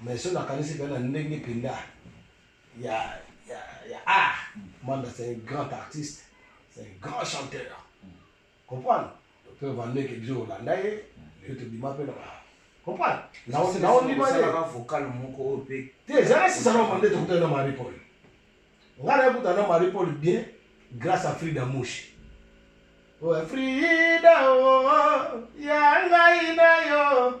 mais soki nakanisi mpe na ndenge mpenza ya, ya, ya art manda c'est un grand artiste c'est un grand chanteur comprendre mpe vandeke biso kolanda ye leo tobima mpe na ba comprendre naondima ye vocal moko oyo mpe te ezalaki sisana mande tokutani na marie paul ngai nayekutana na marie paul bien grâce à frida mouche oyo frida o oh, oh, oh, ya ngai na yo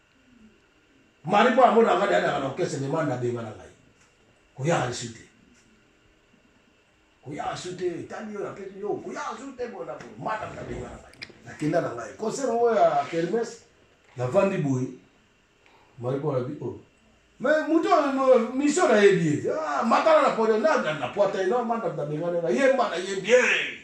mari mpo amona ngai nayandaka na orkestre me manda abenga na ngai koyaka lisu te koyaka su te etali oyo apesi yo koyaka su te bona boye manda abenga na ngai nakenda na ngai concert yango ya kermes navandi boye mari mpo anabi oyo oh. me moto misio nayebi ye ah, matala na podo na pwata eno manda abenga na ngai yemba na ye bien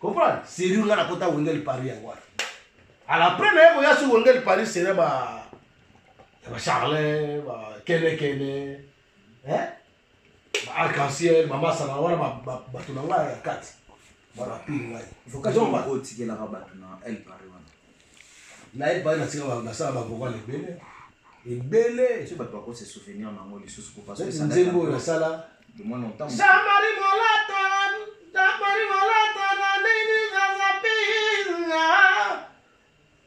Comprendre? Serrure nga nakota Wengel Paris yango wana. À la première naye koya sur Wengel Paris c'est ba ya ba Charlin, ba Kene Kene. Hein? Ba arc-en-ciel, mama sana wana ba ba ba tunanga ya kati. Ba rapide ngai. Vocation ba ko tikela ka ba tuna El Paris wana. na epai na tika basala bavokale ebele ebele nzembo oyo nasala jamari molata jamari molata na nini zazapiinga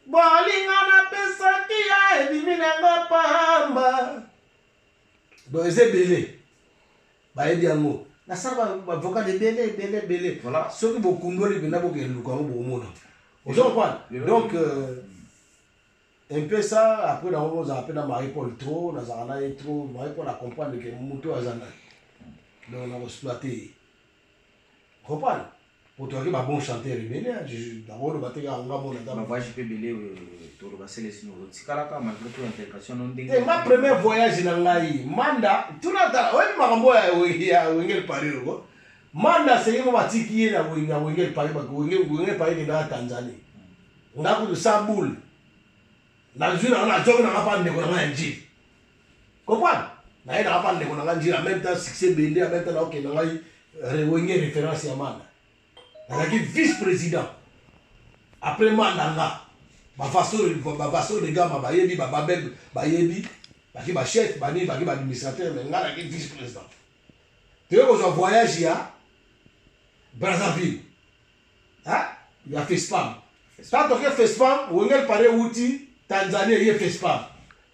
bolinga napesaki ya ebimi nango pamba donc eza ebele bayebi yango nasala bavokale ebele ebele ebele soki bokundoli mpenza bokende luka yango bokomona ozo comprendre donc euh, un peu ça après nango bozala mpe na marie paul trop nazala na ye trop marie paul acomprendre ke moto aza nani donc nakoexploite ye Comprendre Poto yaki ba bon chanteur ebele hein, d'abord oloba te kaka nga mona ta. Ba voyage pe ebele euh, tolo ba selesi no tikala ka malgré tout intégration no ndenge. Eh ma premier voyage na ngai manda tuna ta oyebi makambo ya ya wengel Paris ko. Manda seye mo batiki ye na wengel na wengel Paris ba wengel wengel Paris ke na Tanzanie. Nga kudu sa boule. Na zui na na joki na ngapa ndeko na ngai ya njili. Comprendre? Naye na papa ndeko na nga njira en même temps succès bende en même temps na okay na ngai rewenge référence ya manda. Nazalaki vice président. Après manda nga ba façon ba façon de gama ba yebi ba babel ba yebi ba ki ba chef ba ni ba ki ba administrateur mais nga na ki vice président. Tu veux qu'on voyage ya Brazzaville. Hein? Ya FESPAM. Tant que FESPAM, Wengel Pare Wuti, Tanzanie, il y a FESPAM.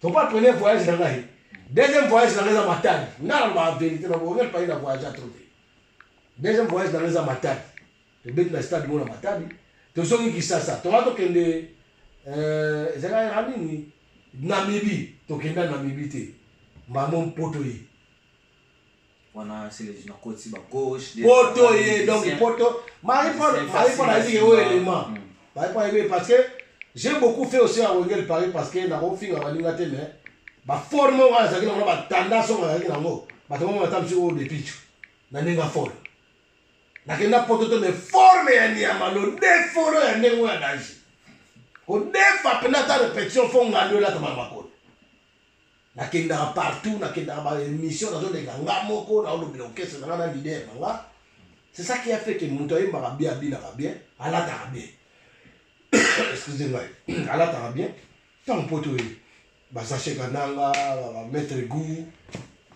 Papa premier voyage na ngai. Deuxième voyage na ngai eza matali. Nga na ba vérité na bongo pas na voyage trop te. Deuxième voyage na ngai eza matali. Tobeti na stade mona matali. Tozongi Kisasa. Toka tokende euh ezaka ya nini? Namibie. Tokenda Namibie te. Maman poto ye. poto ye donc poto marie paul marie paul ayebi ke oyo élément hmm. marie paul ayebi parce que j'ai beaucoup fait aussi à wengel paris parce que nakofinga baninga te mais baforme oyo azalaki nango na batandasi oyo bazalaki nango bato bango ata mosusu oyo depicho na ndenge afolo nakenda poto te mais forme ya nyama lodefolo ya ndenge oyo ya danger kodefa mpenza ata repetition fo ngando elatama na makolo Nakendaka partout, nakendaka ba émission, nazoleka nga moko, naolobela orchestre na nga na leader na nga. C'est ça qui a fait que moto ayembaka bien, abinaka bien, alataka bien. Excusez moi, alataka bien. Tant poto ye, basashe kananga, ba maître goût,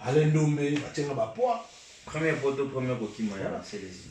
Alain Dombe, batienga ba poids. Premier poto, premier kokima ya Celestin.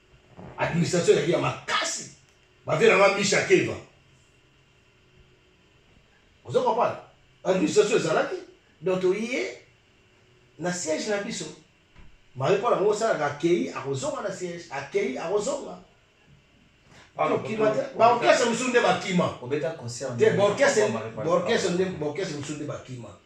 Administration ezalaki ya makasi. Bavie na nga Misha Keva. Ozo comprendre? Administration ezalaki donc toye na siège na biso. Marie Paul yango osalaka akei akozonga na siège, akei akozonga. Baorkestre mosusu nde bakima. Te baorkestre nde baorkestre mosusu nde bakima.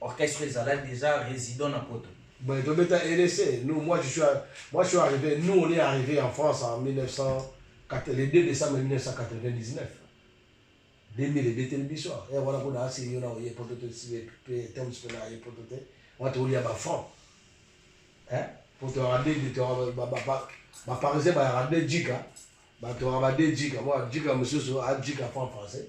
Orchestre ezalaki dejà résident na poto. Bon, to beta RDC. Nous, moi, je suis, à, moi, je suis arrivé. Nous, on est arrivé en France en 1900, le 2 décembre 1999. 2000 ebete biso e wana kuna asi yo na oye poto te pe temps pe na ye poto te wana tolia ba franc hein poto ya de de to ba ba ba ba parisien ba ya de jika ba to ba de jika moi jika monsieur so a jika franc français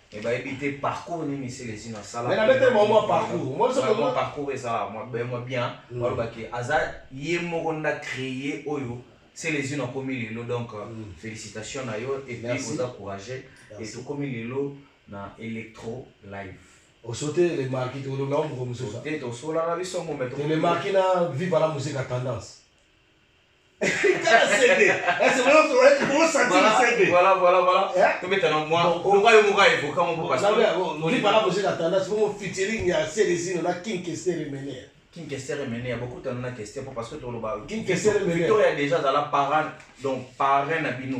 mais bayebi te parcours nini celesino asala mais nabete bango mwa parcours moi soki mwa parcours ezala mwa bien mwa bien hmm. baloba ke aza ye moko nda créer oyo celesino akomi lelo donc euh, hmm. félicitation na yo et puis oza courageux et tokomi lelo na electro live osote le marki tolobela moko mosusu te tosolaka biso ngo mais le marki na viva la musique à tendance kinkesteremenea bokutana na kester po parce que toloba victoria dejà azala parane donc parrain na bino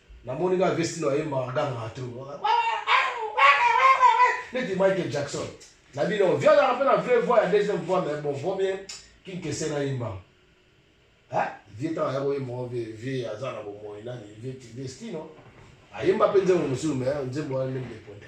Na moni ka vesti na yemba aganga trop. Neti Michael Jackson. Na bino vieux azalaka mpe na vrai voix ya deuxième voix mais bon vaut mieux kinkese na yemba. Hein? Vieux ntango aya koyemba ngo vieux vieux aza na bomoi nani vieux Vestino ayemba mpe nzembo mosusu mais nzembo wana nde mbeponda.